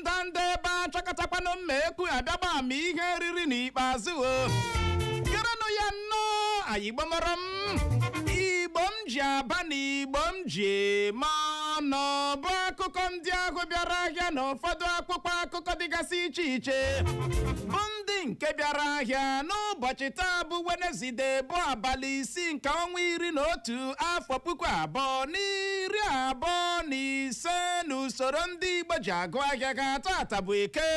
ndanda ebe a chọkọtakwanụ mma ekwu a bịa gba ama ihe e riri n'ikpeazụ o gerenụ ya nnọọ anyị gbamara m igbo m ji aba na igbo m ji eme ọnụ bụ akụkọ ndị ahụ bịara ahịa na ụfọdụ akpụkpọ akụkọ dịgasị iche iche bụ ndị nke bịara ahịa n'ụbọchị taa bụ wenezide bụ abalị isii nke ọnwa iri na otu afọ puku abụọ na iri abụọ na ise n'usoro ndị igbo ji agụ ahịa ha taata bụ eke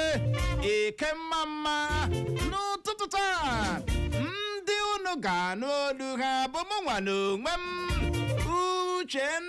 eke mma mma n'ụtụtụ taa ndị unu ga-anụ olu ha bụ mụ nwa n'onwe m uchenna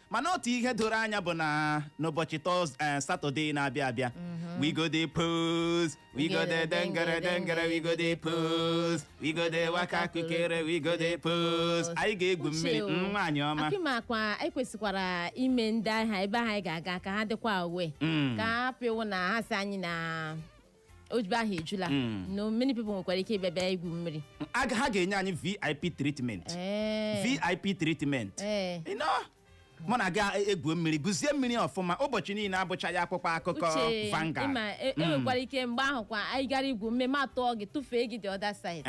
mana otu ihe doro anya bụ na n'ụbọchị tọz eh, satọde na-abịa abịa we go dey pose we go dey dengere dengere we go dey pose we go dey waka kukere we go dey pose anyị ga-egwu mmiri Uche o. mm, nwaanyị ọma ọkwa ị makwa e kwesịkwara ime ndị ahụ ebe ahụ anyị ga-aga ka ha dịkwa aware Mm. ka ọ hapụ ịwụ na ha sị anyị na ogige ahụ ejula hmm. no many people nwekwara ike ịbịa bịa igwu mmiri ha ga-enye anyị vip treatment eh. vip treatment eh. mụ na gị e, egwu mmiri gwuzie mmiri ọfụma ụbọchị niile abụchaghị akpụkpọ akụkọ Vanguard e, hmm. e nwekwara ike mgbe ahụ kwa anyị gara igwu mmiri m atụọ gị tụfee gị the other side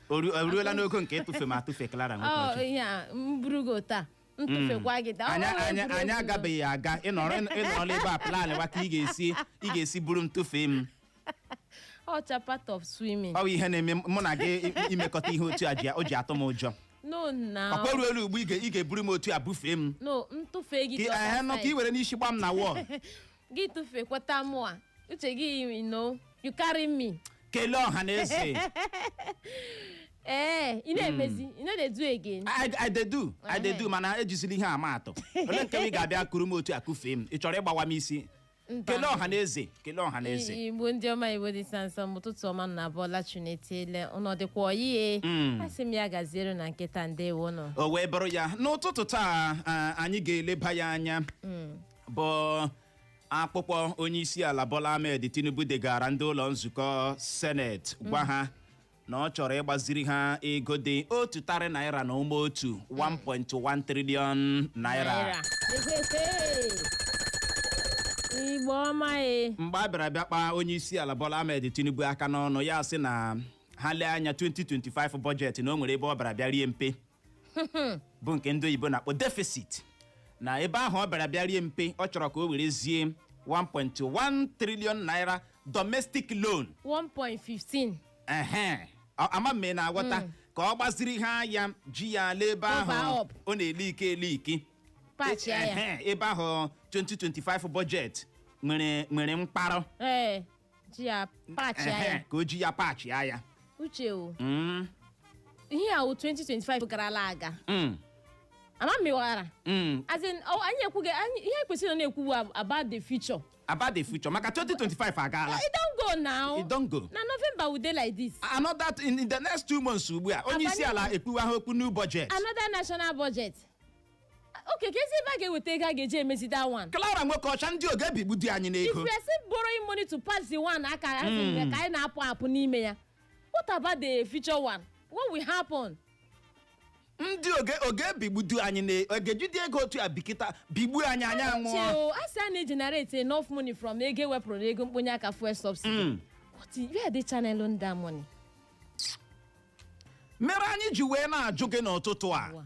o ruola n'ogo nke ịtụfe m atụfe Clara oh, nwekwara ike m buru gị taa m tụfekwa gị taa anyị ọrụ anyị egwuregwu. anyị agabeghị aga ịnọrọ ịnọrọ ebe a plan wa ka ị ga-esi ị ga-esi buru m tụfee m ọ bụcha part of swimming ọ bụ ihe na-eme mụ na gị i- i- imekọta ihe otu a ji o ji atụ m ụjọ no na ọkwa ruo elu ugbu ị ga- ị ga-eburu m otu a bufee m no m tụfee gị ka dị ị- ehe, no ka ị were n'isi gba m na wall gị tụfee kweta mụ a uche gị you know you carry me kelee ọha na eze ee ị na-emezi you no dey do again I, I dey do I dey do mana ejizila ihe a ama atụ ole nke ị ga-abịa kuru m otu a kufee m ị chọrọ ịgbawa m isi Mba. kelee ọha na eze kelee ọha na eze I- igbo ndị ọma igbo dị sansọ m ụtụtụ ọma unu abọọla chi unu etiele unu dịkwa ọyị e Mm. asị m ya gaziere unu kịta ndewo nụ o wee bụrụ ya n'ụtụtụ taa a, anyị ga-eleba ya anya bụ akpụkpọ onye isi ala Bola Ahmed Tinubu degaara ndị ụlọ nzukọ seneti gwa ha na ọ chọrọ ịgbaziri ha ego dị otu tarị naira na ụma otu 1.1 trillion naira igbo ọma e mgbe a bịara bịa kpaa onye isi ala Bola Ahmed Tinubu aka n'ọnụ ya sị na ha lee anya 2025 bọjetị na o nwere ebe ọ bịara bịa rie mpe bụ nke ndị oyibo na-akpọ deficit na ebe ahụ ọ bịara bịa rie mpe ọ chọrọ ka o werezie 1.1 trillion naira domestic loan 1.15 ehe Ọ- ama m na-aghọta ka ọ gbaziri ha ya ji ya lee ebe Cover ahụ up. ọ na-eli ike eli ike patch ya ya Ehe, ebe ahụ 2025 budget nwere nwere mkparọ ee ji ya pachie Ehe, ya ka o ji ya pachie ya uche o Mm, ihe a wụ 2025 garala aga mm, ama m ịghọghara mm. as in ọ- anyị ekwughị anyị ihe kwesịrị na na-ekwu bụ about the future about the future maka 2025 agaala it don go now It don go. na November we dey like this another th- in the next two months ugbu a onye isi ala ekwuwa ha okwu new budget another national budget okay keezi ebe a ga-eweta ego a ga-eji emezi that one Clara Nwokeọcha ndị ọ ga-ebigbudi anyị if n'ego we are still borrowing money to patch the one aka ha si nwe ka anyị na-apụ apụ n'ime ya what about the future one what will happen ndị ọ ga- ọ ga-ebigbudi anyị na ọ ga-ejidi ego otu a bikata bigbu anyị anyị anwụọ chei o a sị a na-egenerate enough money from ego ewepụrụ na ego mkponye aka fuel subsidy Mm. what i- where are they channeling that money mere anyị ji wee na-ajụ gị n'ụtụtụ a Ụwa.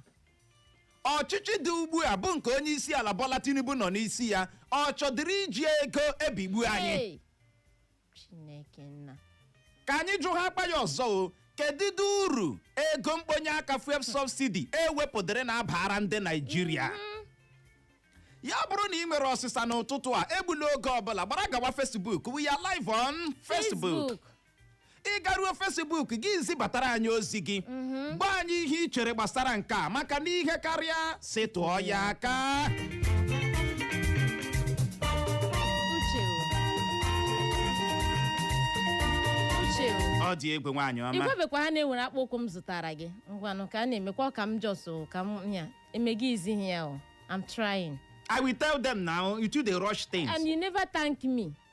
ọchịchị dị ugbu a bụ nke onye isi ala Bola Tinubu nọ n'isi ya ọ chọdịrị iji ego ebigbu anyị Hey! Chineke nna. ka anyị jụhaakwa ya ọzọ o kedụdị uru ego mkponye aka fuel subsidy ewepụdịrị na-abara ndị Naịjirịa ya bụrụ na ị nwere ọsịsa n'ụtụtụ a egbula oge ọbụla gbara gawa Facebook we are live on Facebook ị garuo Facebook gị zibatara anyị ozi gị gwa anyị ihe ị chere gbasara nke a maka na ihe karịa si tụọ ya aka uche o. uche o. ọ dị egwu nwaanyị ọma ị gwabekwa ha na e nwere akpụ ụkwụ m zụtara gị ngwanụ ka a na-emekwa ọ ka m jos o, ka m ya emega izi ihe ya o I'm trying I will tell them now you too dey rush things and you never thank me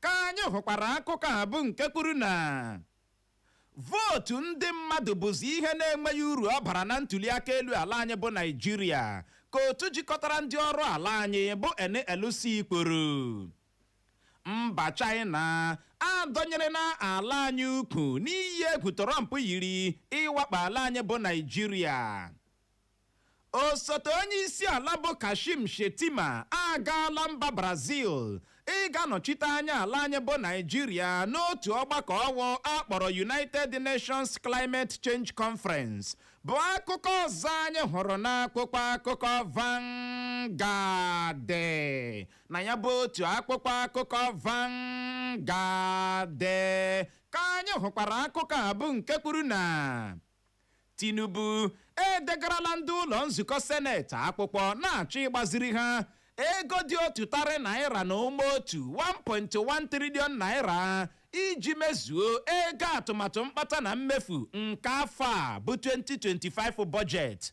Ka anyị hụkwara akụkọ a bụ nke kwuru na vootu ndị mmadụ bụzi ihe na-enweghị uru ọ bara na ntuliaka elu ala anyị bụ Naịjirịa ka otu jikọtara ndị ọrụ ala anyị bụ NLC kwuru. Mba China adọnyerena ala anyị ukwu n'iyi egwu Trump yiri ịwakpo ala anyị bụ Naịjirịa. Osote onye isi ala bụ Kashim Shettima agaala mba Brazil ịga nọchite anya ala anyị bụ Naịjirịa n'otu ọgbakọ ọwụ akpọrọ United Nations Climate Change Conference bụ akụkọ ọzọ anyị hụrụ n'akwụkwọ akụkọ Vanguard na ya bụ otu akwụkwọ akụkọ Vanguard ka anyị hụkwara akụkọ a bụ nke kwuru na Tinubu edegarala ndị ụlọ nzukọ seneti akwụkwọ na-achọ ịgbaziri ha ego dị otu tarị naira na ụma otu 1.1 triliọn naira iji mezuo ego atụmatụ mkpata na mmefu nke afọ a bụ 2025 bọjetị.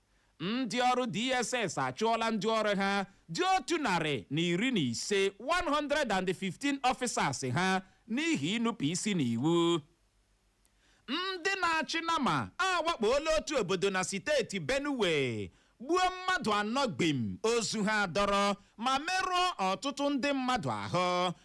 Ndị ọrụ DSS achụọla ndị ọrụ ha dị otu narị na iri na ise 115 officers ha n'ihi inupụ isi n'iwu. Ndị na-achị nama awakpoola otu obodo na siteeti Benue gbuo mmadụ anọ gbim, ozu ha adọrọ ma merụọ ọtụtụ ndị mmadụ ahụ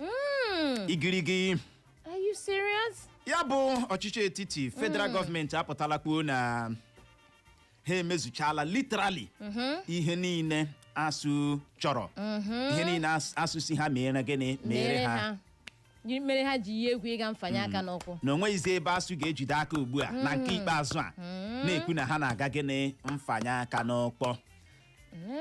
Mm, igirigi are you serious? ya bụ ọchịchị etiti federal gọọmenti apụtala kwuo na ha emezuchala literally ihe niile ASUU chọrọ ihe niile AS- ASUU sị ha mere gịnị mere ha jiri mere ha ji yi egwu ịga mfanye aka n'ụkwụ. na o nweghịzi ebe ASUU ga-ejide aka ugbu a na nke ikpeazụ a na-ekwu na ha na-aga gịnị mfanye aka n'ụkwụ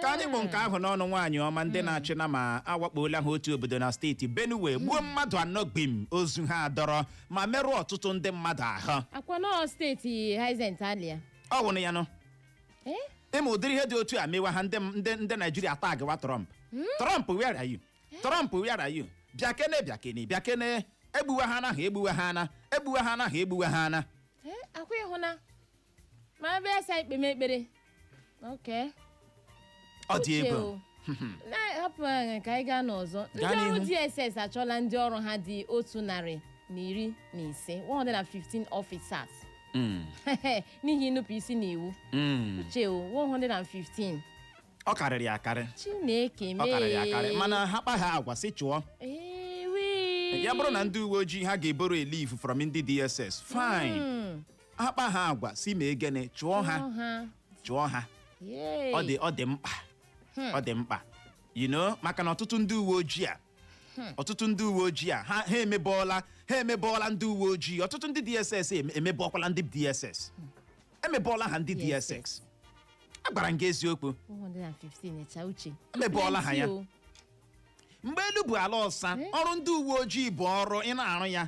ka anyị kpụ nke ahụ n'ọnụ nwaanyị ọma ndị na-achị nama awakpoola ha otu obodo na steeti Benue gbuo mmadụ anọ gbim ozu ha adọrọ ma merụọ ọtụtụ ndị mmadụ ahụ akwa na steeti Hyacinth Alia ọ wụrụ ya nụ Eh? ị ma ụdịrị ihe dị otu a mewa ha ndị ndị ndị Naijiria taagịwa Trump Trump where are you Trump where are you bịa kene bịa kene bịa kene egbuwa ha anaghị egbuwa ha ana egbuwa ha anaghị egbuwa ha ana Eh, akwa ị hụ na ma ebe a sị anyị kpeme ekpere oke ọ dị Uche egwu o. na-ahapụ anyị ka anyị gaa n'ọzọ ndị Gaa ọrụ n'ihu. DSS achụọla ndị ọrụ ha dị otu narị na iri na ise 115 officers Mm, n'ihi inupụ isi n'iwu mm. uche o 115 ọ karịrị ya akarị chineke ọ karịrị ya akarị mee mana ha kpa ha agwa sị chụọ ewi ya bụrụ na ndị uwe ojii ha ga-eborrow a leaf from ndị DSS fine akpa ha agwa sị mee gịnị chụọ ha Chụọ ha. chụọ ha Yay. ọ dị ọ dị mkpa ọ dị mkpa you know maka na ọtụtụ ndị uwe ojii a ọtụtụ ndị uwe ojii a ha ha emebọọla ha emebọọla ndị uwe ojii ọtụtụ ndị DSS em- emebọọkwala ndị DSS emebọọla ha ndị DSS. DSS agwara m gị eziokwu 115 echa uche Emebọọla ha ya. Plenty o. mgbe elu bụ ala ọsa ọrụ ndị uwe ojii bụ ọrụ ị na-arụ ya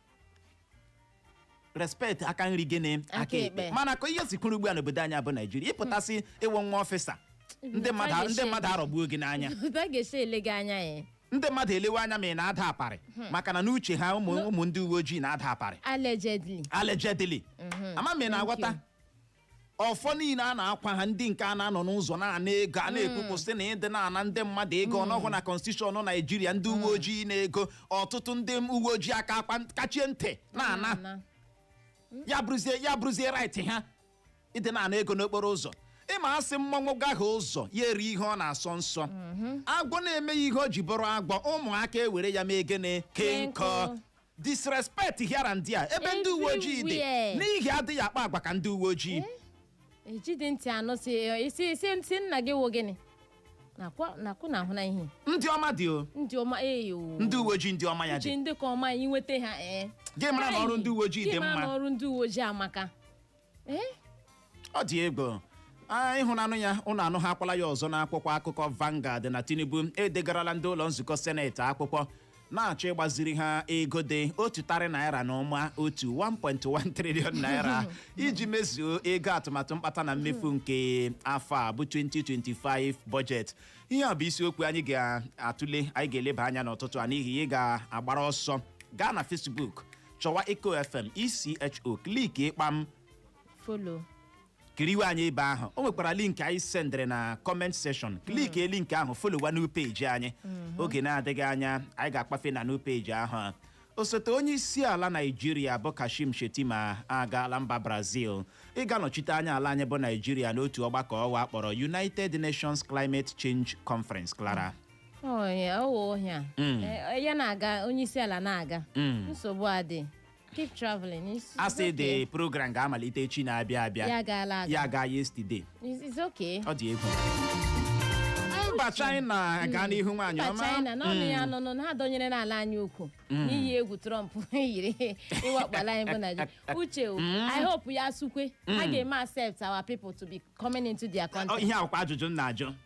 respect aka nri gịnị Aka ekpe. mana ka ihe si kwụrụ ugbu a n'obodo anyị bụ Naijiria ị pụta sị ị wụ nwa ọfịsa ndị mmadụ a- ndị mmadụ arọgbuo gị n'anya Otu a ga-esi ele gị anya ya ndị mmadụ elewe anya ma ị na-ada aparị maka na n'uche ha ụmụ ụmụ ndị uwe ojii na-ada aparị allegedly allegedly ama m ị na-aghọta ọfọ niile a na-akwa ha ndị nke a na-anọ n'ụzọ na-ana ego a na-ekwupụ sị na ịdị na-ana ndị mmadụ ego ọ nọghị na konstitushọn naijiria ndị uwe ojii ịna ego ọtụtụ ndị uwe ojii aka akpa kachie ntị na-ana na ya bụrụzie ya bụrụzie right ha ịdị na-ana ego n'okporo ụzọ ị ma a sị mmọnwụ gahie ụzọ ya erie ihe ọ na-asọ nsọ agwọ na-emeghị ihe o ji bụrụ agwọ ụmụaka ewere ya mee gịnị kee nkụ Kee nkụ. disrespect here and there ebe ndị uwe ojii dị Everywhere. n'ihi adịghị akpa agwa ka ndị uwe ojii ejide ntị anụ si isi isi ntị nna gị wụ gịnị nakwa nakwa na ahụ na ihe ndị ọma dị o ndị ọma eyo ndị uwe ojii ndị ọma ya uche dị ndị ka ọma anyị nweta ha ee gị mara na ọrụ ndị uwe ojii dị Gị mara na mma ọrụ ndị uwe ojii amaka ọ dị egwu a ịhụnanụ ya unu anụ ha akwala ya ọzọ n'akwụkwọ akụkọ Vanguard na Tinubu edegarala ndị ụlọ nzukọ seneti akwụkwọ na-achọ ịgbaziri ha ego dị otu tarị naira na ụma otu 1.1 trillion naira iji mezuo ego atụmatụ mkpata na mmefu nke afọ a bụ 2025 bọjetị ihe a bụ isiokwu anyị ga-atụle anyị ga-eleba anya n'ụtụtụ a n'ihi ị ga-agbara ọsọ gaa na Facebook chọwa Echo FM ECHO kliki kpam folo kiriwe anyị ebe ahụ o nwekwara link anyị sendịrị na comment section klikie link ahụ folowa new page anyị oge na-adịghị anya anyị ga-akwafe na new page ahụ osote onye isi ala naijiria bụ kashim shettima agaala mba brazil ịga nọchite anya ala anyị bụ naijiria n'otu ọgbakọ ụwa a kpọrọ united nations climate change conference clara Ọnya, ọ wụ ọhịa. Mm. Eh, ya na-aga onye isi ala na-aga Mm. nsogbu adị keep traveling it's, a it's sị okay. the program ga-amalite echi na-abịa abịa ya gaala aga ya gaa yesterday It's- it's okay ọ dị egwu mba china gaa n'ihu nwaanyị mba ọma china na ọnụ ya nụnụ na ha dọnyeere ala anyị ukwu n'iyi egwu trump yiri ịwakpo ala anyị bụ naijiria uche o, i hope ya sukwa ha ga-eme accept our people to be coming into their Ọ, country ihe a wụkwa ajụjụ m na-ajụ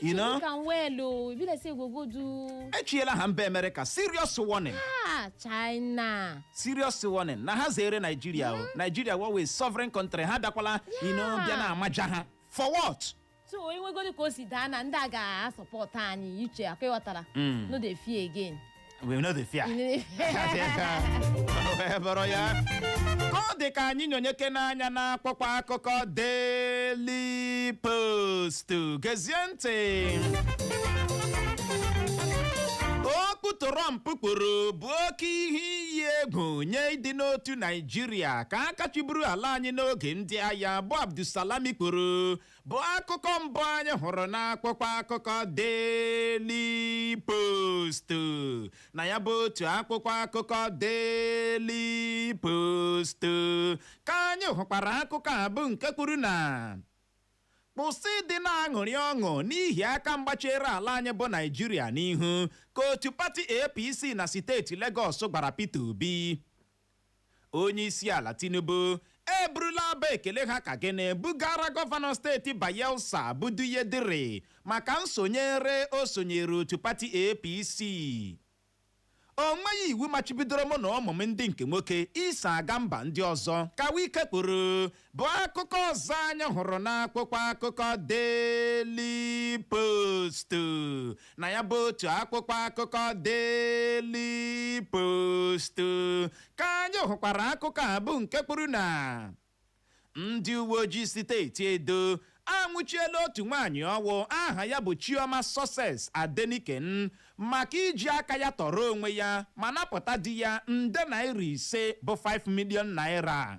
you know You can well o. E be like say you go go do echiela ha mba amerịka serious warning ah China. serious warning na ha zere naijiria o naijiria wụ a sovereign country ha bịakwala you know Yeah. bịa na-amaja ha for what So onye nwegodi ka o si daa na ndị a ga-asọpọt anyị uche ọ kwa ị ghọtara. No dey fear again. we no dey fear wee bụrụ ya ka ọ dị ka anyị nyonyekene anya n'akwụkwọ akụkọ Daily Post gezie ntị okwu Trump kwuru bụ oke ihe iyi egwu nye ịdị n'otu Naijiria ka aka chịburu ala anyị n'oge ndị agha bụ Abdulsalami kwuru bụ akụkọ mbụ anyị hụrụ n'akwụkwọ akụkọ Daily Post na ya bụ otu akwụkwọ akụkọ Daily Post ka anyị hụkwara akụkọ a bụ nke kwuru na kwụsị ịdị na-aṅụrị ọṅụ n'ihi aka mgba chere ala anyị bụ Naịjirịa n'ihu ka otu pati APC na steeti Legọs gwara Peter Obi Onyeisiala Tinubu eburula abụ ekele ha ka gịnị bugara gọvanọ steeti Bayelsa bụ Douye Diri maka nsonyere o sonyere otu pati APC. O nweghị iwu machibidoro mụ na ụmụ m ndị nke nwoke iso aga mba ndị ọzọ, ka Wike kwuru bụ akụkọ ọzọ anyị hụrụ n'akwụkwọ akụkọ Daily Post na ya bụ otu akwụkwọ akụkọ Daily Post ka anyị hụkwara akụkọ a bụ nke kwuru na ndị uwe ojii steeti Edo anwụchiela otu nwaanyị ọwụ aha ya bụ Chioma Success Adeniken maka iji aka ya tọrọ onwe ya ma napụta di ya nde naira ise bụ 5 million naira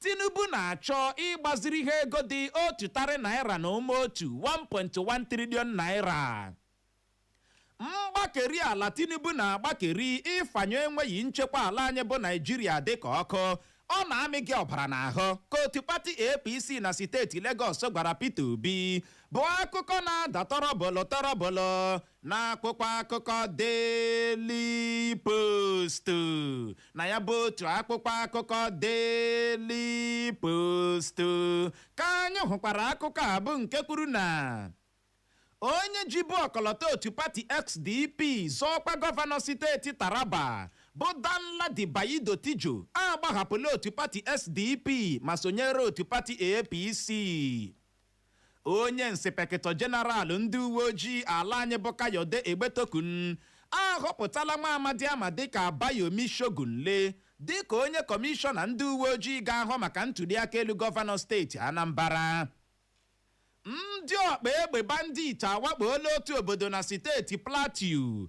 Tinubu na-achọ ịgbaziri ha ego dị otu tarị naịra na ụma otu, 1.1 trillion naịra. Mgbakeri ala Tinubu na-agbakeri ịfanyụ enweghị nchekwa ala anyị bụ Naịjirịa dịka ọkụ, ọ na-amị gị ọbara n'ahụ, ka otu pati APC na steeti Legọs gwara Peter Obi, bụ akụkọ na-ada tọrọbọlọ tọrọbọlọ. n'akwụkwọ akụkọ Daily Post na ya bụ otu akwụkwọ akụkọ Daily Post ka anyị hụkwara akụkọ a bụ nke kwuru na onye jibu ọkọlọtọ otu pati SDP zọọ ọkwa gọvanọ steeti Taraba bụ Danladi Baido Tijo agbahapụla otu pati SDP ma sonyere otu pati APC Onye nsipekịtọ Jeneral ndị uweojii ala anyị bụ Kayode Egbetokun ahọpụtala nwa amadi a ma dịka Abayomi Shogunle dịka onye kọmishọna ndị uweojii ga-ahụ maka ntuliaka elu gọvanọ steeti Anambara. Ndị ọkpa egbe bandit awakpoola otu obodo na steeti Plateau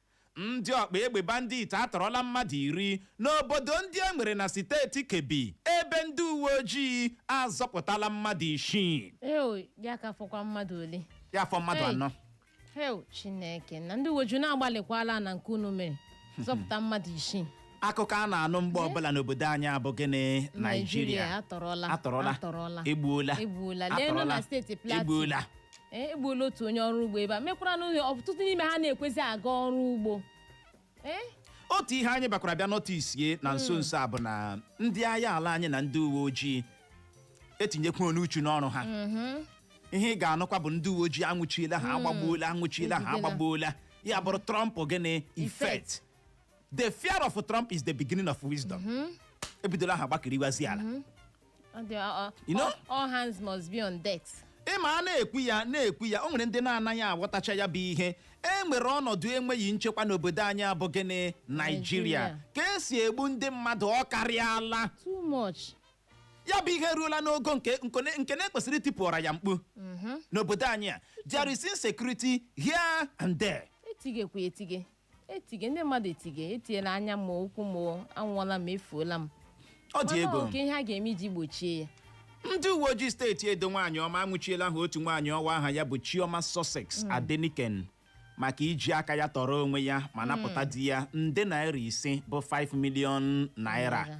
Ndị ọkpa egbe bandit atọrọla mmadụ iri n'obodo ndị e nwere na steeti Kebbi ebe ndị uweojii azọpụtala mmadụ isii. Ew, ya ka fọkwa mmadụ ole Ya fọ mmadụ Hey. anọ. hew Chineke nna ndị uweojii unu agbalịkwala na nke unu mere zọpụta mmadụ isii akụkọ a na-anụ mgbe ọbụla n'obodo anyị a bụ gịnị naijiria atọrọla atọrọla atọrọla egbuola egbuola lee nọ na steeti plateau egbuola Ee, egbuola otu onye ọrụ ugbo ebe a mekwara n'ụlọ ọtụtụ n'ime ha na-ekwezi aga ọrụ ugbo ee otu ihe anyị bịakwara bịa nọtisie na nso nso a bụ na ndị agha ala anyị na ndị uwe ojii etinyekwana uchu n'ọrụ ha ihe ị ga-anụkwa bụ ndị uwe ojii anwụchiela ha agbagbuola anwụchiela ha Ejidela. agbagbuola ya bụrụ trump gịnị effect the fear of trump is the beginning of wisdom ebidola ha gbakiriwazi ala Ọ dị- ọ- ọ- You know? all- all hands must be on decks. ịma a na-ekwu ya na-ekwu ya o nwere ndị na-anaghị aghọtacha ya bụ ihe e nwere ọnọdụ enweghị nchekwa n'obodo anyị a bụ gịnị naijiria Naịjirịa. ka e si egbu ndị mmadụ ọ karịala too much ya bụ ihe eruola n'ogo nke nkone- nke na-ekwesịrị itipụra ya mkpu n'obodo anyị a there is insecurity here and there etigekwa etige etige ndị mmadụ etige etiela anya m ụkwụ m anwụọla m efuola m ọ dị egwu o kee ihe a ga-eme iji gbochie ya ndị uwe ojii steeti edo nwaanyị ọma anwụchiela ha otu nwaanyị ọwa aha ya bụ chioma success adeniken maka iji aka ya tọrọ onwe ya ma napụta di ya nde naira ise bụ 5 million naira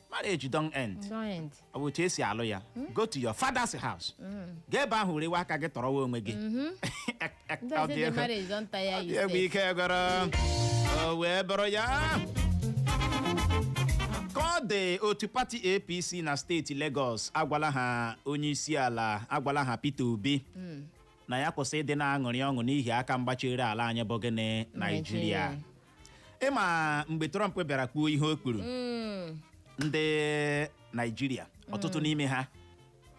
marriage don end Don't end. ọ bụ otu e si alụ ya go to your father's house gaa ebe ahụ were aka gị tọrọwa onwe gị Ndị Ọ ọzọ dị dị ego. marriage don tire Ọ you dị egwu sef. ike gwụrụ o wee bụrụ ya ka ọ dị otu pati apc na steeti Lagos agwala ha onye isi ala agwala ha Peter Obi na ya kwụsị ịdị na-aṅụrị ọṅụ n'ihi aka mgba chere ala anyị bụ gịnị Naijiria ịma mgbe trump bịara kwuo ihe o kwuru Mm. ndị naijiria ọtụtụ n'ime ha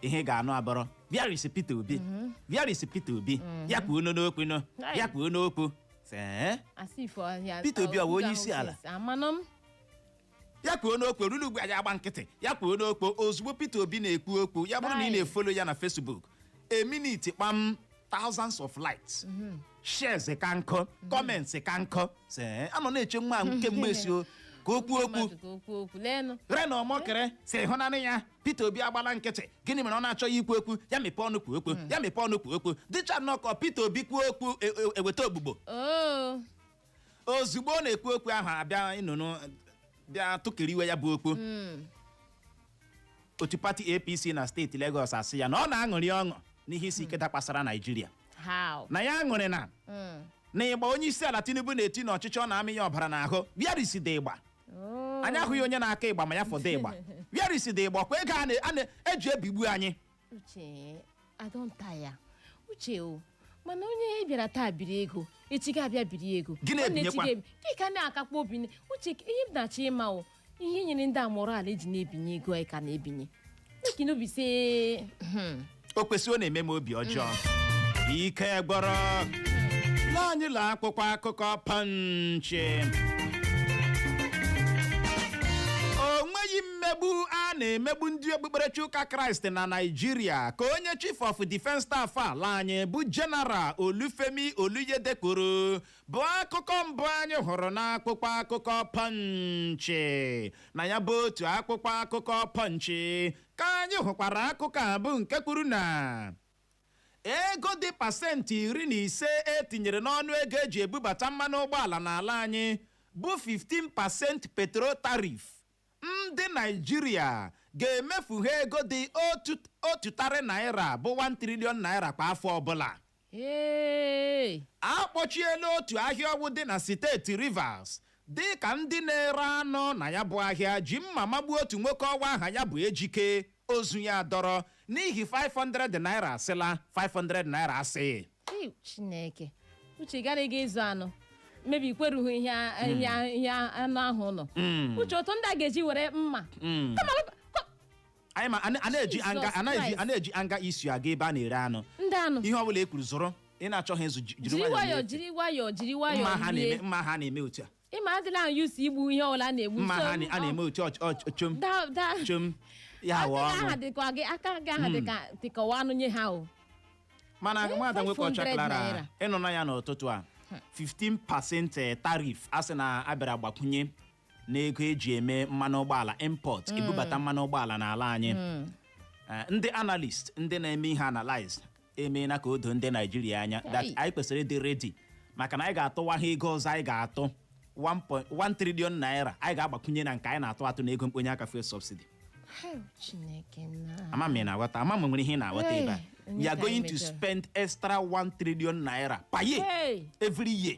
ihe ị ga-anụ abụrụ where is peter obi where is peter obi ya kwuo nụ okwu nụ Right. ya kwuo nụ okwu Sị, "Eh?" Asị ifo ọhịa- Peter Obi ọ bụ okwu onye ahụ isi ala? sị, Amanụ m. ya kwuo nụ okwu ruru ugbu a ya agba nkịtị ya kwuo nụ okwu ozugbo peter obi na-ekwu okwu ya bụrụ na ị Right. na-efolo ya na facebook a minute kpam thousands of likes shares ka nkọ comments ka nkọ sị "Eh, a nọ na-eche nwa ahụ kemgbe sị o ka o kwuo okwu Mmadụ ka o kwuo okwu leenụ reno omokri sị hụnanụ ya peter obi agbala nkịtị gịnị mere ọ na-achọghị ikwu okwu ya mepee ọnụ kwuo okwu ya mepee ọnụ kwuo okwu dịcha nnọọ ka peter obi kwuo okwu e- e- eweta ebubo oo ozugbo ọ na-ekwu okwu ahụ a bịa nụnụ bịa tụkiriwe ya bụ okwu otu pati apc na steeti Lagos asị ya na ọ na-aṅụrị ọṅụ n'ihe isi ike dakwasara naijiria how na ya aṅụrịna Mm. na igba onye isi ala tinubu na-eti n'ọchịchị ọ na-amị ya ọbara n'ahụ where is the igba Oh. anyị ahụghị onye na-akụ igba ma ya fọdụ igba where is the igba kwa ego a na- a na-eji ebigbu anyị uche I don taya uche o mana onye ị bịara taa biri ego echi ga-abịa biri ego Gị na-ebinyekwa. Nwanne echi ga-ebi- gị ka na-akakwa obi na- uche ihe m na-achọ ịma o ihe nyere ndị a morale e ji na-ebinye ego anyị ka na-ebinye make e no be say o kwesịrị ọ na-eme m obi ọjọọ ike gwụrụ lee anyị ụlọ akwụkwọ akụkọ Punch mmegbu a na-emegbu ndị okpukperechi ụka kraịst na Naịjirịa ka onye chief of defence staff ala anyị bụ general olufemi oluyede kwuru bụ akụkọ mbụ anyị hụrụ n'akwụkwọ akụkọ Punch na ya bụ otu akwụkwọ akụkọ Punch ka anyị hụkwara akụkọ a bụ nke kwuru na ego dị pasentị iri na ise e tinyere n'ọnụ ego eji ebubata mmanụ ụgbọala n'ala anyị bụ 15 percent petrol tariff Ndị Naịjirịa ga-emefu ha ego dị otu tarị naịra bụ 1 trillion naịra kwa afọ ọbụla. Hey! A kpọchiela otu ahịa ọgwụ dị na steeti Rivers dịka ndị na-ere anụ na ya bụ ahịa ji mma magbuo otu nwoke ọwa aha ya bụ Ejike. ozu ya dọrọ n'ihi 500 naira a sịla 500 naira asị Ei, chineke uche gara ịga ịzụ anụ maybe i kwerughị ihe a- ihe a- ihe a- anụ ahụ nọ uche otu ndị a ga-eji were mma Mm. Kama ọ- kọ- anyị ma a na- a na-eji Jesus anger a na-eji Christ. a na-eji anger issue aga ebe a na-ere anụ ndị anụ ihe ọbụla e kwuru zụrụ ị na-achọghị ịzụ ji- jiri jiri nwayọọ nwayọọ na-efe. jiri nwayọọ jiri mma nwayọọ ha rie na-eme mma ha na-eme otu a ịma adịla ahụ used to igbu ihe ọbụla a na-egbu mma so- ha na- a na-eme otu ọch- ọch- chom Da- da- chom ya aka wụ gị aha ọnụ dịkwa gị aka gị aha dịka dịka ọwa anụ nye ha o mana Eh, nwada nwoke 500 ọcha Clara naira. ị nụna ya n'ụtụtụ a 15% eh, tariff a sị na a bịara gbakwunye n'ego eji eme mmanụ ụgbọala import ebubata mmanụ ụgbọala n'ala anyị Eh, ndị analyst ndị na-eme ihe analyze emeela ka o doo ndị Naịjirịa anya that Hey. anyị kwesịrị ịdị ready maka na anyị ga-atụwa ha ego ọzọ anyị ga-atụ 1 trillion naira anyị ga-agbakwunye na nke anyị na-atụ atụ na ego mkponye aka fuel subsidy Hell, Chineke nna. ama m ị na-aghọta ama m nwere ihe ị na-aghọta Hey, ebe a onye you are ka anyị going to mejọrọ? spend extra 1 trillion naira per year Hey. every year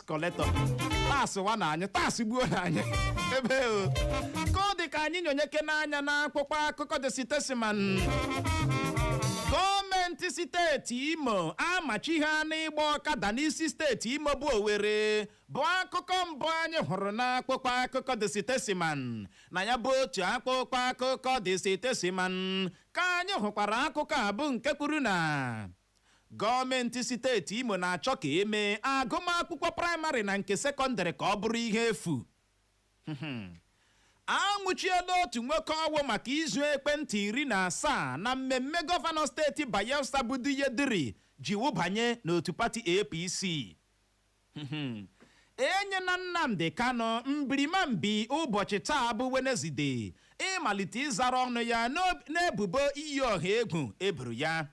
collector taxwa na anyị tax gbuo na anyị ebe o ka ọ dị ka anyị nyonyekene anya n'akwụkwọ akụkọ The Statesman gọọmenti steeti imo amachighana ịgba ọkada n'isi steeti imo bụ owere bụ akụkọ mbụ anyị hụrụ n'akwụkwọ akụkọ The Statesman na ya bụ otu akwụkwọ akụkọ The Statesman ka anyị hụkwara akụkọ a bụ nke kwuru na Gọọmentị steeti Imo na-achọ ka e mee agụmakwụkwọ praịmarị na nke sekọndịrị ka ọ bụrụ ihe efu. A nwụchiela otu nwoke ọwụ maka izu ekwentị iri na asaa na mmemme gọvanọ steeti Bayelsa bụ Douye Diri ji wụbanye n'otu pati APC. E nyela Nnamdi Kanu mbirimambi ụbọchị taa bụ Wenezide ịmalite ịzara ọnụ ya n'ebubo iyi ọha egwu e boro ya.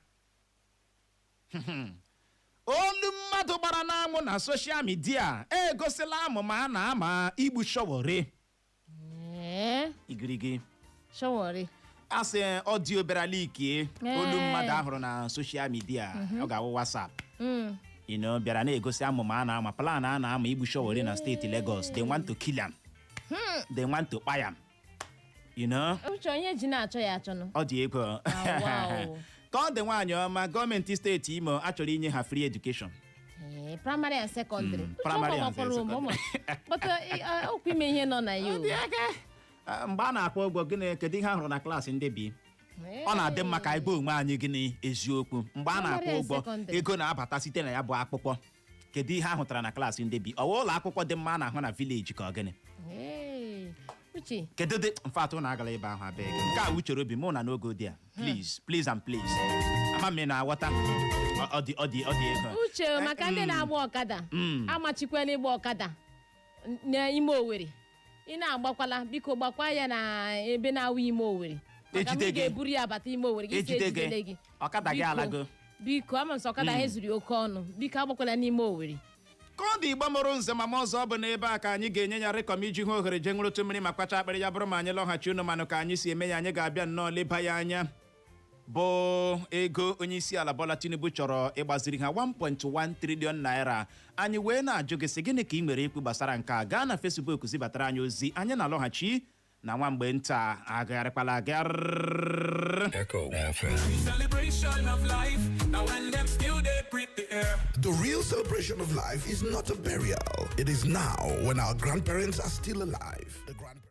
olu mmadụ gbara n'anwụ na soshal midia egosila amụma a na-ama igbu Sowore Ee, igirigi Sowore. a sị audio bịara leak olu Ee. mmadụ a hụrụ na soshal midia ọ ga-awụ WhatsApp Mm. you know, bịara na-egosi amụma a na-ama plan a na-ama igbu Sowore na steeti Lagos they want to kill am they want to kpai am you know uche onye ji na-achọ ya achọnụ ọ dị egwu o. wow. ka ọ dị nwaanyị ọma gọọmenti steeti imo achọrọ inye ha free education Ee, praịmarị and sekọndịrị Mm, praịmarị and sekọndịrị. but okwu ime ihe nọ na ya o. Ah, mgbe a na-akwụ ụgwọ gịnị kedu ihe a hụrụ na klaasị ndị bi Ee. ọ na-adị mma ka anyị gwa onwe anyị gịnị eziokwu mgbe a na-akwụ Praịmarị and ụgwọ sekọndịrị. ego na-abata site na ya bụ akwụkwọ kedu ihe a hụtara na klaasị ndị bi ọwa ụlọ akwụkwọ dị mma a na-ahụ na vileji ka ọ gịnị Hey, uche kedu dị mfatụ ụnụ agala ebe ahụ abịa gị nke a uchere obi mụ na n'oge ụdị a please please and please ama m ị na-aghọta Ọ- ọ dị ọ dị ọ dị egwu o. uche Eh, maka ndị mm, na-agba ọkada mm. amachikwela ịgba ọkada n- n'ime owere ị na-agbakwala biko gbakwa ya na ebe na-awụ ime owere maka na Ejide ị gị. ga-eburu ya bata ime owere gị si Ejide gị. ejidele gị Ọkada gị Biko, alago. biko ama m sị ọkada anyị zụrụ ya oke ọnụ biko agbakwala n'ime owere ka ọ dị Igbo mụrụ nze mama ọzọ ọ bụ n'ebe a ka anyị ga-enye ya rịkọm iji hụ ohere jee ṅụrụtụ mmiri ma kwacha akpịrị ya bụrụ ma anyị lọghachi unu manụ ka anyị si eme ya anyị ga-abịa nnọọ leba ya anya bụ ego onyeisiala Bola Tinubu chọrọ ịgbaziri ha 1.1 trillion naira anyị wee na-ajụ gị sị gịnị ka ị nwere ikwu gbasara nke a gaa na Facebook zibatara anyị ozi anyị na-alọghachi na nwa mgbe nta agagharịkwala agagharị Echo FM. Celebration of life. Now when them still dey breathe air. The real celebration of life is not a burial. It is now when our grandparents are still alive. The grandparents.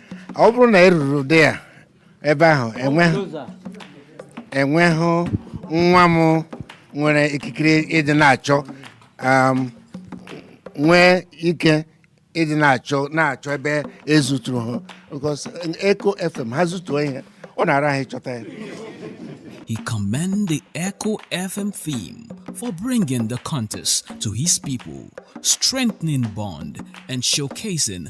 ọ bụrụ na e ruru ụdị ya ebe ahụ enweghị nwa m nwere ikikere ịdị na-achọ um, nwee ike ịdị na-achọ na-achọ ebe e zuturu ha because Echo FM ha zutuo ihe ọ na-ara ahụ ịchọta ya He commend the Echo FM team for bringing the contest to his people, strengthening bond and showcasing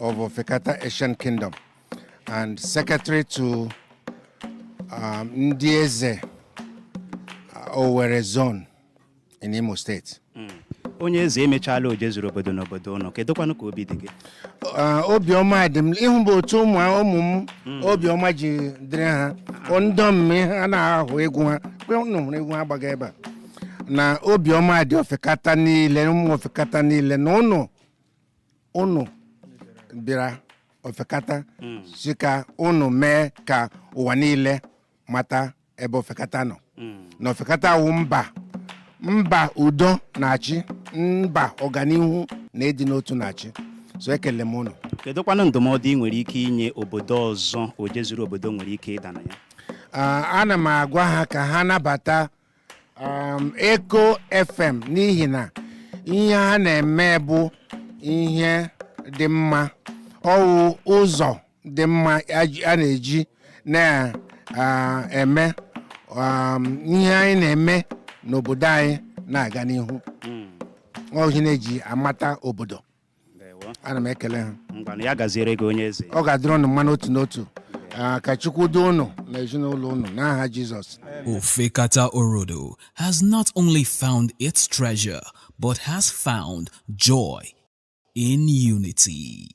of Ofekata Ancient Kingdom and secretary to um, ndị eze uh, Owerri zone in Imo State. onye eze emechaala Ojezuru obodo n'obodo ụnụ kedụkwanụ ka obi dị gị Uh, obiọma dị m ịhụ bụ otu ụmụ ụmụ m obiọma ji dịrị ha ọ ndị ọmụmụ ihe a na-ahụ egwu ha kwe ụnụ hụrụ egwu ha gbaga ebe a na obiọma dị ofekata niile ụmụ ofekata niile na ụnụ unu bịara ofekata sị ka unu mee ka ụwa niile mata ebe ofekata nọ na ofekata wụ mba mba udo na-achị mba ọganihu na ịdị n'otu na-achị so ekele m unu kedụkwanụ ndụmọdụ ị nwere ike inye obodo ọzọ ojezuru obodo nwere ike ịda na ya Ah, ana m agwa ha ka ha nabata um, Echo FM n'ihi na ihe ha na-eme bụ ihe dị mma ọ wụ ụzọ dị mma a ji- a na-eji na-eme um, ihe anyị na-eme n'obodo anyị na-aga n'ihu ọ wụ ihe a na-eji amata obodo ana m ekele ha ngwanụ ya gaziere gị onye eze ọ ga-adịrị ụnụ mma n'otu n'otu Ah, ka chukwu duo ụnụ na ezinụlọ ụnụ n'aha jizọs Ofekata Orodo has not only found its treasure, but has found joy in unity.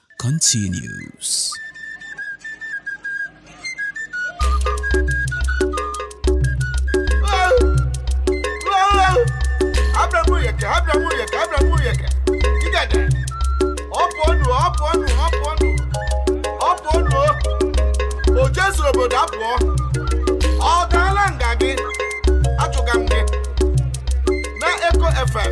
continues. Ojezuru obodo apụọ ọ gaala nga gị achụga m gị na Echo FM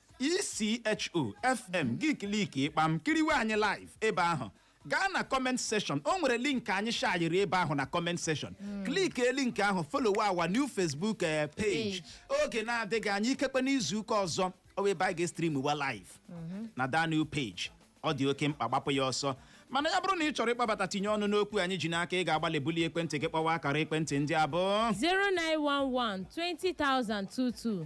ECHO FM gị kliki kpam kiriwe anyị live ebe ahụ gaa na comment section o nwere link anyị shayiri ebe ahụ na comment section klik link ahụ follow our new Facebook eh, page oge na-adịghị anya ikekwe n'izu ụka ọzọ ọ bụ ebe anyị ga-estrimwa live na that new page ọ dị oke mkpa gbapụ ya ọsọ mana ya bụrụ na ị chọrọ ịkpabata tinye ọnụ n'okwu anyị ji n'aka ị ga-agbalị bulie ekwentị gị kpọwa akara ekwentị ndị a bụ 0911 20,022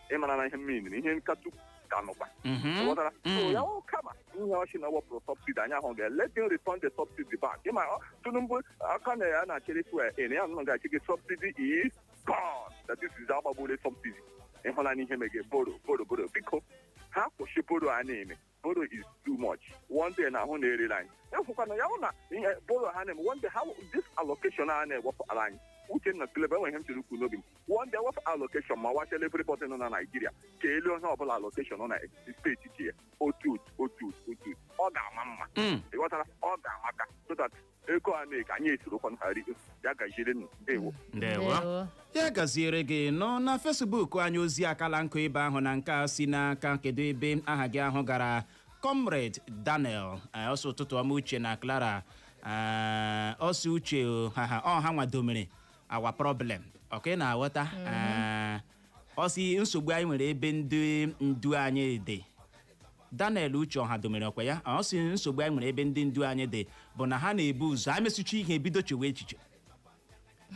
ịmara na ihe mmiri na ihe nkatụ ka nọkwa Mhm. ghọtara Mm. so ya wụ kama ihe ọchị na wepụrụ subsidy anyị ahụ ga let him return the subsidy back ịma ọ, tinubu aka na ya na-achịrị fuel ị ya nọ ga-achị gị subsidy is gone that this is agbagbule subsidy ịhụla n'ihe mege borrow borrow borrow biko ha kwụsị borrow a na-eme borrow is too much one day na ahụ na-erere anyị efụkwana ya hụ na ihe borrow ha na-eme one day ha this allocation a na-ewepụtara anyị uchenna silebe enweghị m chere ikwu n'obi m one day wepụ allocation ma wachela everybody nọ na naijiria keere onye ọbụla allocation nọ na steeti ji ya otu otu otu otu ọ ga-ama mma Mm. ịghọtara ọ ga-amaka so that ego a na-eke anyị esorokwanụ ha rie ya gaziere nụ ndewo ndewo Ndewo. ya gaziere gị nnọọ na facebook anyị ozi akala nka ebe ahụ na nke a si n'aka kedu ebe aha gị ahụ gara comrade daniel eh, ọ sị ụtụtụ ọma uche na clara eh, ọ sị uche o, ha ha ọha nwadomere our problem okay ị na-aghọta eh, ọ sị nsogbu anyị nwere ebe ndị ndu anyị dị daniel uche ọhadomere ọkwa ya ọ sị nsogbu anyị nwere ebe ndị ndu anyị dị bụ na ha na-ebu ụzọ ha mesịcha ihe ebido chewe echiche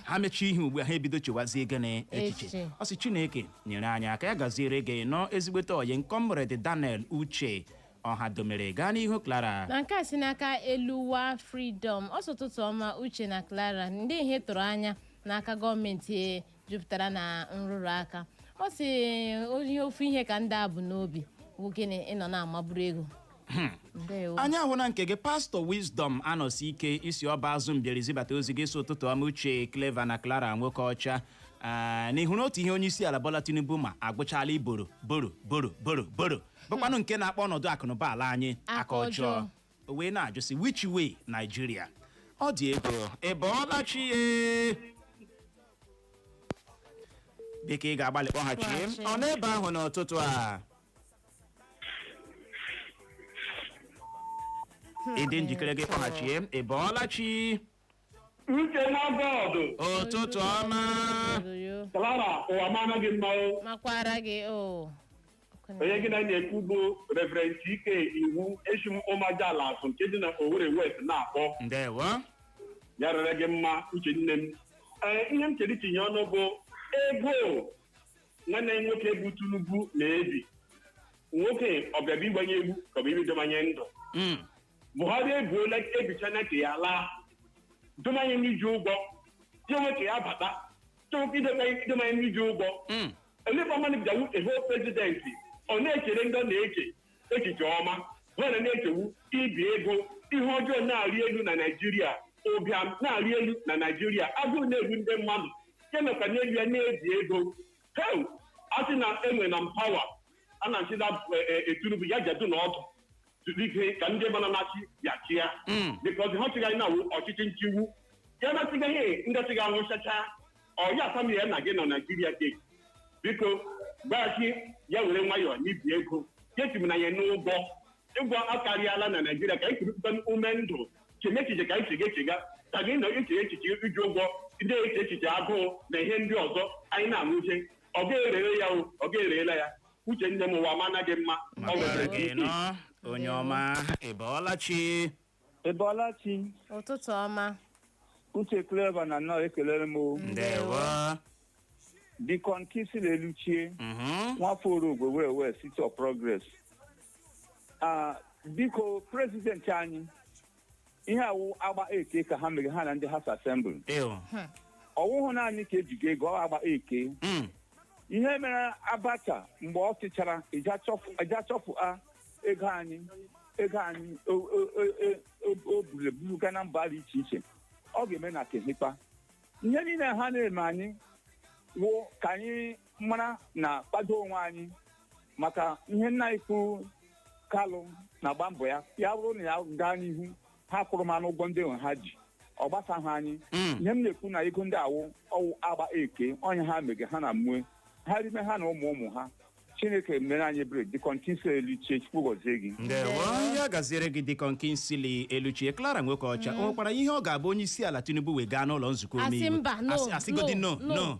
ha mechaa ihe ugbu a ha ebido chewazie gịnị echiche Echiche. ọ sị chineke nyere anyị aka ya gaziere gị nnọọ ezigbote ọyị m comrade daniel uche ọhadomere gaa n'ihu clara na nke a si n'aka eluwa freedom ọ sị ụtụtụ ọma uche na clara ndị ihe ị tụrụ anya n'aka gọọmenti jupụtara na nrụrụ aka ọ sị onye ofu ihe ka ndị a bu n'obi bụ gịnị ịnọ na-amaburu ego ndewo anyị ahụna nke gị pastọ wisdom anọsike i si ọbazụ mbieri zibata ozi gị ị sị ụtụtụ ọma uche clever na clara nwoke ọcha Ah, n'ihu na otu ihe onye isi ala bola tinubu ma agwụchaala ịborrow borrow borrow borrow borrow bụkwanụ nke na-akpa ọnọdụ akụnụba ala anyị aka ọjọọ o wee na-ajụzị which way Nigeria ọ dị egwu ị bọọla chi ọ dịka ị ga-agbalị kpọghachi Kpọghachi. ọ n'ebe ahụ n'ụtụtụ a ị dị njikere gị kpọghachi ị bọọla chi uche na bọọdụ ụtụtụ ọma Oyoyo. clara ụwa mara gị mma ọ makwara gị o onye gị na ya na-ekwu bụ reverend ike iwu esi m ụmajala asụ nke dị na owere west na-akpọ ndewo ya rịrị gị mma uche nne m ee ihe m chere itinye ọnụ bụ ego nwanne m nwoke bụ tinubu na-ebi nwoke ọ bịa abịa igbu anyị egbu ka ọ bụ ịbịa doma anyị ndụ Mm. buhari ebuola ebichaa nke ya laa doma anyị n'iji ụgwọ chenwe ka ya bata chenwe ka idebe doma anyị n'iji ụgwọ Mm. elefa mmadụ bịawu ehe prezidenti ọ na-echere ndị ọ na-achị echiche ọma ha na na-eche wụ ibi ego ihe ọjọọ na-arị elu na naijiria ụbịam na-arị elu na naijiria agụụ na-egbu ndị mmadụ ya nọkwa n'elu ya na-ebi ego heu a sị na enwena m power a na-achịda tinubu ya jadu na ọdụ zuru ike ka ndị mana na-achị ya chịa because ha chịgaghị na ọchịchị nchịgbu ya na chịgaghị ndị chịga anwụchacha ọya asam ya na gị na naijiria steeti biko gbaghachi ya were nwayọọ n'ibi ego kechim na ya n'ụgwọ ụgwọ akarịala na naijiria ka anyị kurupụta ume ndụ cheme echiche ka anyị chega echega ka gị na-eche echiche iji ụgwọ ndị eche echiche agụụ na ihe ndị ọzọ anyị na-anwụche ọ ga-erere ya o ọ ga-erela ya uche nne m ụwa ma anaghị mma ọ makwara nwere gị nọ onye ọma ị bọọla chi ị bọọla chi ụtụtụ ọma uche Clara na nnọọ ekelere m o. ndewo Deacon Kingsley Eluchie Mhm. nwafọ Orogwe Owerri West city of progress Ah, biko prezidenti anyị ihe a wụ agba eke ka ha mere ha na ndị House Assembly Ew. ọ wụhụ naanị ka ejigo ego ọ agba eke Mm. ihe mere Abacha mgbe ọ chịchara ịja chọfụ- ịja chọfụ a ego anyị ego anyị o- o- o- o- o- o buru eburu gaa na mba dị iche iche ọ ga-eme na kehikpa ihe niile ha na-eme anyị wụ ka anyị mara na kpado onwe anyị maka ihe nna anyị ukwu Kanu na-agba mbọ ya ya bụrụ na ya gaa n'ihu ha kwụrụmanụ ụgwọ ndị nwa ha ji ọ gbasaghị anyị Mm. ihe m na-ekwu na ego ndị a wụ ọ wụ agba eke ọnya ha mege ha na ụmụ ha rime ha na ụmụ ụmụ ha chineke mere anyị ebere Deacon Kingsley Eluchie chukwu gọzie gị ndewo ya gaziere gị Deacon Kingsley Eluchie clara nwoke ọcha o nwekwara ihe ọ ga-abụ onye isi ala tinubu wee gaa n'ụlọ nzukọ Asị omeiwu mba, no, Asị- asịgodi no, no no no.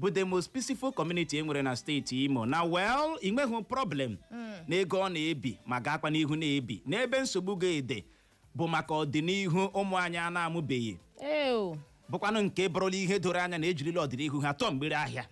bụ the most peaceful community e nwere na steeti imo na well ị nweghị problem na ego ọ na-ebi ma gaakwa n'ihu na-ebi na ebe nsogbu ga-adị bụ maka ọdịnihu ụmụ anyị a na-amụbeghị ee ọ bụkwanụ nke bụrụla ihe doro anya na ejirila ọdịnihu ha tọọ mgbere ahịa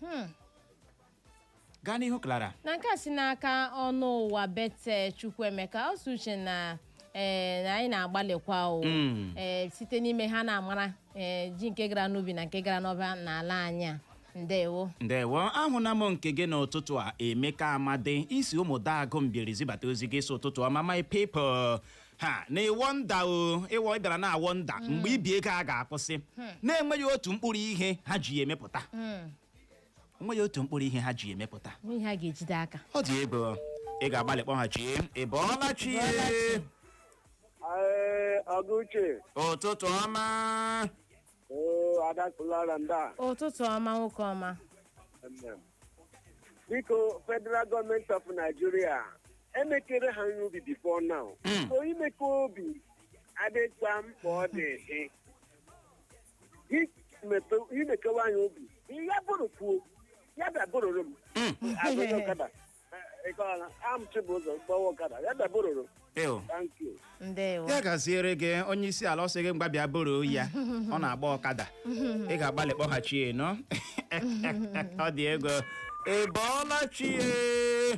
gaa n'ihu clara na nke a si n'aka ọnụ ụwa bete chukwuemeka ọ sị uche na ee na anyị na-agbalịkwa o Mm. ee site n'ime ha na-amara ee ji nke gara n'ubi na nke gara n'ọba n'ala anyị a ndewo ndewo ahụna m nke gị n'ụtụtụ a emeka amadi i si Umudagu Mbieri zibata ozi gị sị ụtụtụ ọma my people ha na ị wonder o ịwọ ị bịara na-awonder mgbe ibi ego a ga-akwụsị na-enweghị otu mkpụrụ ihe ha ji emepụta enweghị otu mkpụrụ ihe ha ji emepụta n'ihe ha ga-ejide aka ọ dị egwu ị ga-agbalị kpọghachi ị bọọla chi Ee, ọga uche ụtụtụ ọma oo ada Clara ndị a ụtụtụ ọma nwoke ọma Amen. biko federal government of Nigeria emekerela anyị obi before now Mm. so imeke obi adịkwa mkpa ọ dị dị Imepe- imekewa anyị obi ya bụrụ kwuo ya bịa bụrụrụ m Mm. azụrụ ọkada ịkọla am chibụzọ gbawa ọkada ya dabororo Ew. thank you ndewo ya gaziere gị onye isi ala ọ sị gị mgba bịa buru ya ọ na-agba ọkada ị ga-agbalị kpọghachi ya na ọ dị egwu ị bọọla chi ee.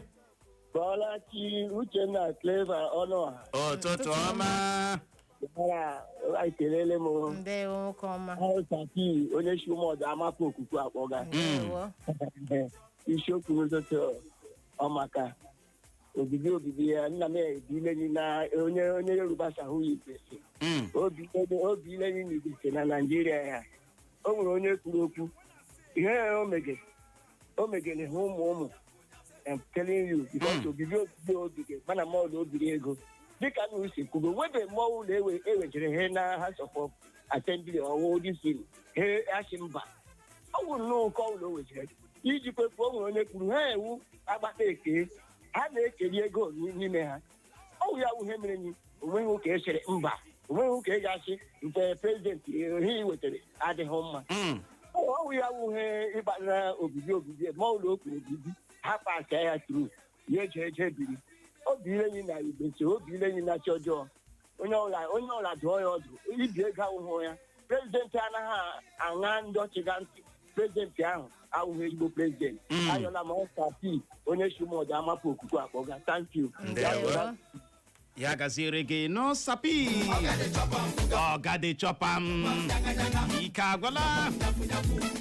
bọọla chi Uchenna Clever Ọnụọha ụtụtụ ọma Mara, anyị ekelele m o. ndewo nwoke ọma Ahụ Saki, onye si Ụmụọdụ Amapụ Okuku akpọga. ndewo isiokwu n'ụtụtụ ọ maka obibi obibi ya nna m ebi ilenyi na onye onye Yoruba sị ọ wụ ya igbese Mm. obi onye- obi ilenyi na igbese na naijiria ya o nwere onye kwuru okwu ihe o mege o megere ha ụmụ ụmụ I'm telling you, because Mm. obibi obibi obibi mana ma ọla o biri ego dịka unu si kwugo webe mmụọ ụlọ ewe ewejere ha na House of Assembly ọwụ disi ha asị mba ọ bụ nnọọ nke ọla o wejere iji kwepuo o nwere onye kwuru ha ewu agbata eke ha na-ekeri ego n'ime ha ọ wụ ya wụ ihe mere nyi onweghị nke sịrị mba onweghị nke ga-asị na prezidenti ihe i wetara adịghị mma Mm. ọ wụ ya wụ ihe kpatara obibi obibi ma ọla okwu obibi ha pasia ya tru ya eje eje biri obi ilenyi na igbese obi ilenyi na chi ọjọọ onye ọla onye ọla dụọ ya ọdụ ibi ego awụhụ ya prezidenti anaghị aṅa ndị ọ chịga ntị prezidenti ahụ awụghị ezigbo prezidenti Mm. ayọla m Ọsapi onye si Ụmụọdụ Amapụ Okuku akpọga thank you Ndewo. Ayọla. ya gaziere gị n'ọsapi oga dey chop am ike agwụla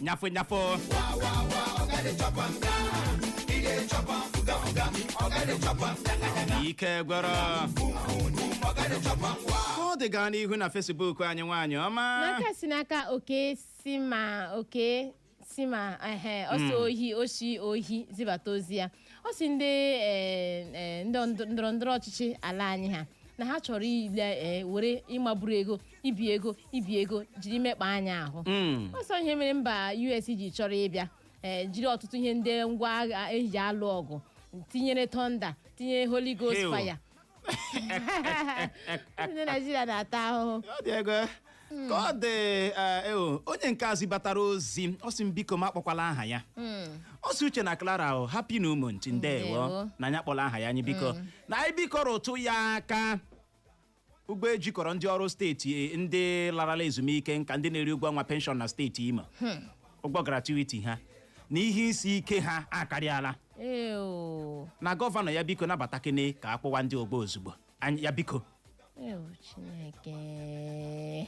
nyafụ nyafụ ike gwụrụ ka ọ dị gaa n'ihu na fesbuk anyị nwaanyị ọma n'aka si n'aka oke si ma oke si ma ehe o si Ohi o si Ohi zibata ozi ya ọ sị ndị eh, eh, ndị ndọ- ndọrọ ndọrọ ọchịchị ala anyị ha na ha chọrọ ile eh, were ịmaburu ego ibi ego ibi ego jiri mekpa anyị ahụ Mm. ọ sị ọ ihe mere mba US ji chọrọ ịbịa ee jiri ọtụtụ ihe ndị ngwa agha eji alụ ọgụ tinyere thunder tinyere holy ghost Hell. fire ndị naijiria na-ata ahụhụ Ọ dị egwu. ka ọ dị eh, eh, o, onye nke a zibatara ozi ọ sị m biko m akpọkwala aha ya ọ sị Uche na Clara o happy new month ndewo Ndewo. na anyị akpọla aha ya anyị biko na anyị biko rụtụ ya aka ụgwọ ejikọrọ ndị ọrụ steeti e, ndị larala ezumike nka ndị na-eri ụgwọ ọnwa penshọn na steeti Imo hmm. ụgwọ gratuity ha na ihe isi ike ha akarịala na gọvanọ ya biko nabatakene ka a kwụwa ndị ụgwọ ozugbo ya biko Chineke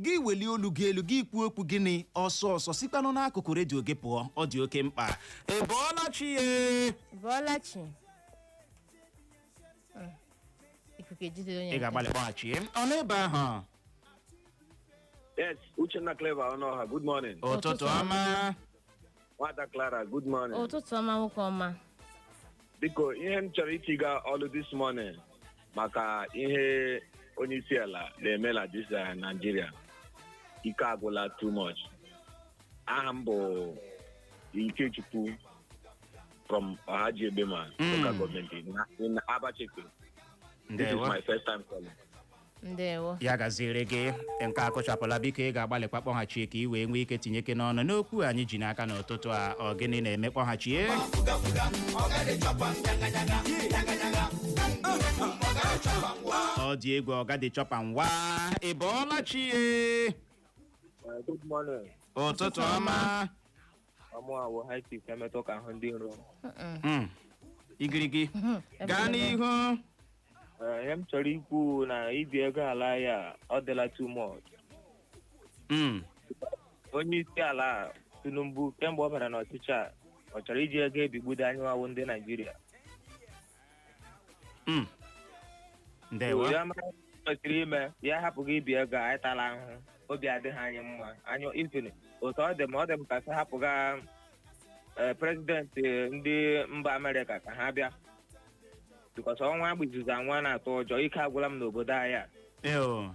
gị welie olu gị elu gị kwuo okwu gịnị ọsọ ọsọ sikwanụ n'akụkụ redio gị pụọ ọ dị oke mkpa ị bọọla chi ị bọọla chi. Mm. Ikuku ejidere onye nke. ị ga-agbalị kpọghachi ọ n'ebe ahụ Yes, Uchenna Clara Onuoha, good morning. ụtụtụ ọma nwada clara good morning ụtụtụ ọma nwoke ọma biko ihe m chọrọ itiga olu this morning maka ihe onye isi ala na-eme na this eh, Nigeria ike agwụla too much aha m bụ Ikechukwu from Ohaji Egbema Mm. local government in, in Abacheke this is Ndewo. my first time calling ndewo ya gaziere gị nke a kụchapụla biko ị ga-agbalịkwa kpọghachie ka ị wee nwee ike tinyekene ọnụ n'okwu anyị ji n'aka n'ụtụtụ a ọ gịnị na-eme kpọghachie ọ dị egwu ọga dị chọpa ngwa ị bọọla chi e Uh, good morning. ụtụtụ ọma ọ mụa wụ high chief emetụ ka ahụ dị nro Mm-mm. Mm. igirigi gaa n'ihu Ee, ihe m chọrọ ikwu na ibi ego ala ya ọ dịla too much Mm. onye isi ala tinubu kemgbe ọ bara n'ọchịchị a ọ chọrọ iji ego ebigbudo anyị wa wụ ndị naijiria Mm. ndewo ya mara ihe kwesịrị ime ya hapụga ibi ego anyị atala ahụhụ obi adịghị anyị mma anyị even otu ọ dị m ọ dị m ka sị hapụga eh, president ndị mba amerịka ka ha bịa because ọnwa agba izuzu anwa na-atụ ụjọ ike agwụla m n'obodo anyị a Eo.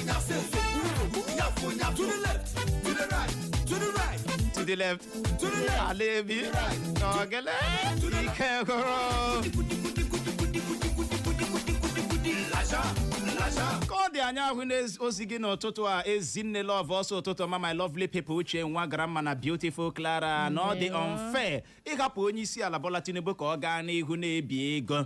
to the left alebi Ogele Ikeduru. ka ọ dị anyị ahụna ozi gị n'ụtụtụ a ezinne love ọsọ ụtụtụ ọma my lovely people uche nwa grandma na beautiful clara na ọ dị unfair ịhapụ onye isi ala bola tinubu ka ọ gaa n'ihu na-ebi ego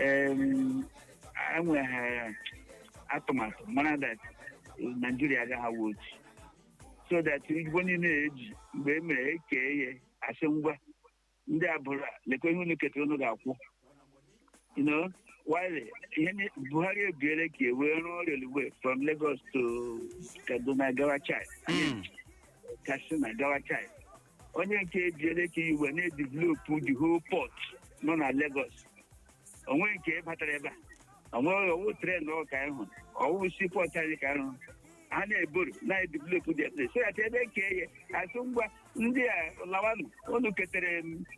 Em, enweghị atụmatụ mara that naijiria agaghị awụ otu so that ụgwọ niile e ji mgbe e mere e kee ya a sị ngwa ndị a buru lekwa ihe unu ketara unu ga-akwụ you know while ihe ni- buhari ebiere ka e wee rụọ railway from lagos to kaduna gawa Chad Mm. katsina gawa Chad o nwe nke e biele ka e wee na-edevelop the whole port nọ na Lagos o nwe nke batara ebe a o nwe ọ wụ train ọ ka anyị hụrụ ọ wụ seaport anyị ka anyị hụrụ ha na-eborrow na-edevelop the place so that e mee kee ya a sị ngwa ndị a lawanụ unu ketere m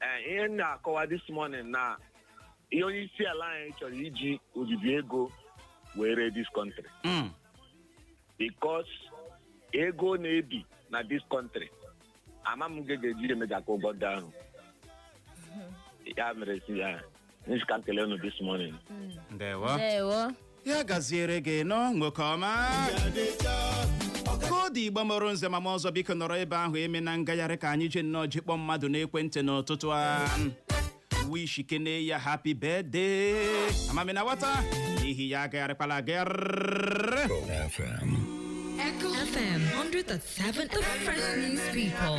eh, ihe m na-akọwa this morning na ihe onye isi ala anyị chọrọ iji obibi ego wee ree this country Mm. because ego na-ebi na this country ama m nke ga-eji emecha akwụ ụgwọ ndị ahụ ya mere si ya m sị ka m kelee unu this morning. ndewo ndewo ya gaziere gị nọ nwoke ọma ka ọ dị Igbo mụrụ nze ma mụọ ọzọ biko nọrọ ebe ahụ emena ngagharị ka anyị jee nnọọ je kpọọ mmadụ n'ekwentị n'ụtụtụ a wishi kene ya happy birthday ama m ị na-aghọta n'ihi ya agagharịkwala agagharị Echo FM 100.7 The Fresh News People.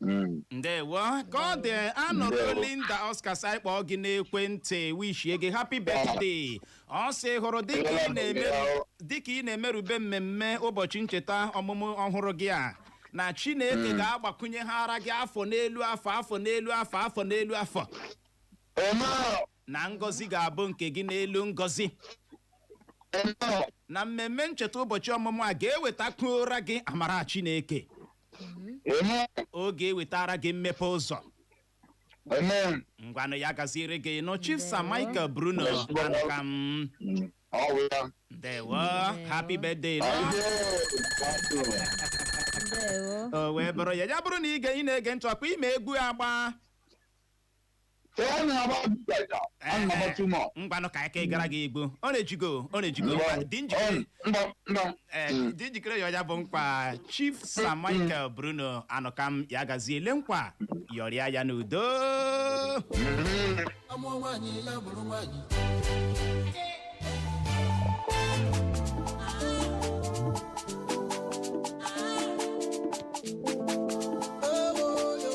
Mm. ndewo ka ọ dị Honourable Ndewo. linda Oscar sị anyị kpọọ gị n'ekwentị wishie gị happy birthday ọ sị hụrụ dịka ị na-emeru- dịka ị na-emerube mmemme ụbọchị ncheta ọmụmụ ọhụrụ gị a na chineke ga-agbakwunyeghara gị afọ n'elu afọ afọ n'elu afọ afọ n'elu afọ Amen. na ngọzi ga-abụ nke gị n'elu ngọzi na mmemme ncheta ụbọchị ọmụmụ a ga-ewetakwuora gị amara Chineke ọ ga-ewetara gị mmepe ụzọ ngwanụ ya gaziere gị nụ Chief Sir Michael Bruno Anụkam ndewo happy birthday o wee bụrụ ya ya bụrụ na ị na-ege ntị ọkwa ị ma egwu agba ka ọ na-agba bidata a na-agba too much ngwanụ ka aka ịgara gị egwu ọ na-ejigo ọ na-ejigo Ngwa- dị njikere ọ- ngwa ngwa Ee, Mm. dị njikere yọọ ya bụ nkwa chief sir michael bruno anụkam ya gazie le nkwa yọrịa ya n'udo Mhm. a mụọ nwaanyị ya bụrụ nwaanyị